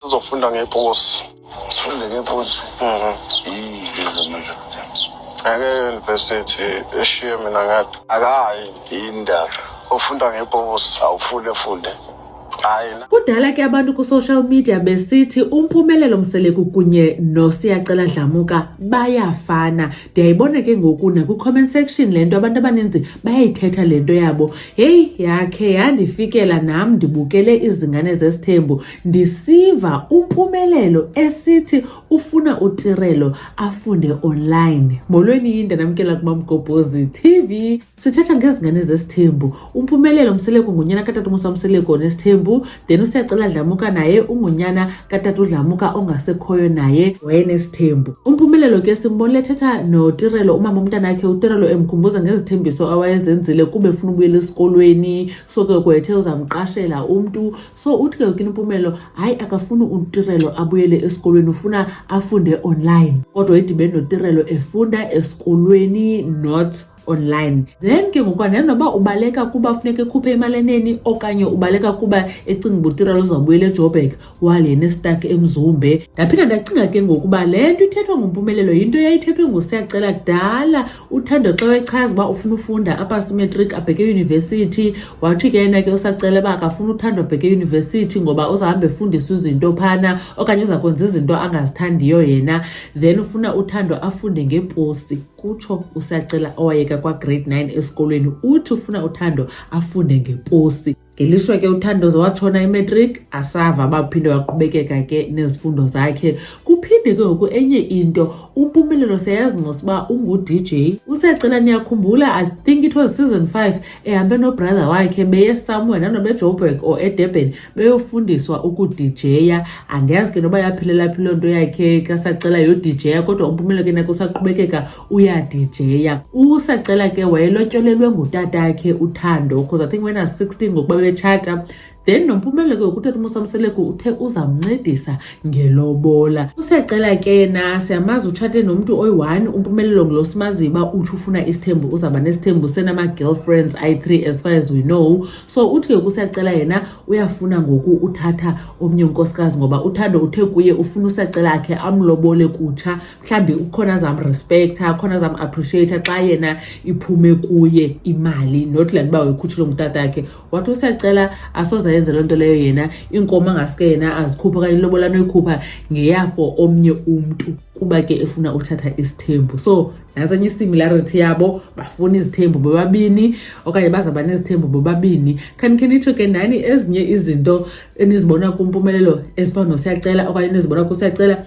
sizofunda ngeposi sifunde ngeposi mhm. ngeke university eshiye mina ngathi akayi yindaba ufunda ngeposi awufunde funde kudala ke abantu ku-social media besithi umpumelelo mseleku kunye nosiyacela dlamuka bayafana ndiyayibona ke ngoku nakwi-comment section le nto abantu abaninzi bayayithetha le nto yabo heyi yakhe yandifikela nam ndibukele izingane zesithembu ndisiva umpumelelo esithi ufuna utirelo afunde online molweni yinde namkela kuba mgobhozi tv sithetha ngezingane zesithembu umpumelelo mseleko ngunyana katata umusa mseleko onesithembu then usiyacela dlamuka naye ungunyana katata udlamuka ongasekhoyo naye wayenesithembu umpumelelo ke simbonile ethetha notirelo umama umntana akhe utirelo emkhumbuza ngezithembiso awayezenzile kube funa ubuyela esikolweni so ke kwethe uzamqashela umntu so uthi ke ukimpumelo hayi akafuni utirelo abuyele esikolweni ufuna afunde online kodwa idibene notirelo efunda esikolweni not online then ke ngoku andinoba ubaleka kuba funeka ekhuphe imali eneni okanye ubaleka kuba ecinga uba utirelo uzawubuyela ejobek wale nestak emzumbe ndaphinda ndacinga ke ngokuba le nto ithethwa ngumpumelelo yinto yayithethwe ngusiyacela kudala uthando xa wechaza uba ufuna ufunda apha simetric abheke eyunivesithi wathi ke yena ke usacela uba akafuna uthando abheke eyunivesithi ngoba uzahambe efundisa izinto phana okanye uza kwenza izinto angazithandiyo yena then ufuna uthando afunde ngeposi kutsho usacela owayeka kwagrade 9 esikolweni uthi ufuna uthando afunde ngeposi Ngelishwa ke uThandozo watshona imatric asava baphinde waqhubekeka ke nezifundo zakhe. Kuphinde ke ngoku enye into uMpumelelo seyazi ngosuba ungu-DJ. Usecela niyakhumbula I think it was season 5 ehambe nobrother wakhe beye somewhere nanoba eJoburg or eDurban beyofundiswa ukudijaya. Andiyazi ke noba yaphelela phi loo nto yakhe kasacela yodijaya kodwa uMpumelelo ke nako usaqhubekeka uyadijeya usacela ke wayelotyolelwe ngutatakhe uthando because i think when i was 16 ngokuba bebetshata then nompumelelo ke ukuthetha umusamseleko uthe uzamncedisa ngelobola usiyacela ke yena siyamazi utshate nomntu oyi-one umpumelelo ngulo simaziyo uba uthi ufuna isithembu uzawuba nesithembu senama-girlfriends ayi-three as far as we know so uthi ke kusiyacela yena uyafuna ngoku uthatha omnye unkosikazi ngoba uthando uthe kuye ufuna usiyacela akhe amlobole kutsha mhlawumbi ukhona azamrespektha khona azam-appreciata xa yena iphume kuye imali not le ntoba uyikhutshile ngutata yakhe wathi usacela asoze ayenze loo nto leyo yena iinkomo angasuke yena azikhuphe okanye ilobola noyikhupha ngeyafo omnye umntu kuba ke efuna uthatha isithembu so nasenye isimilarity yabo bafuna izithembu bobabini okanye bazaba nezithembu bobabini khanikhe nitsho ke nani ezinye izinto enizibona kumpumelelo ezifana nosiyacela okanye enizibona kusiyacela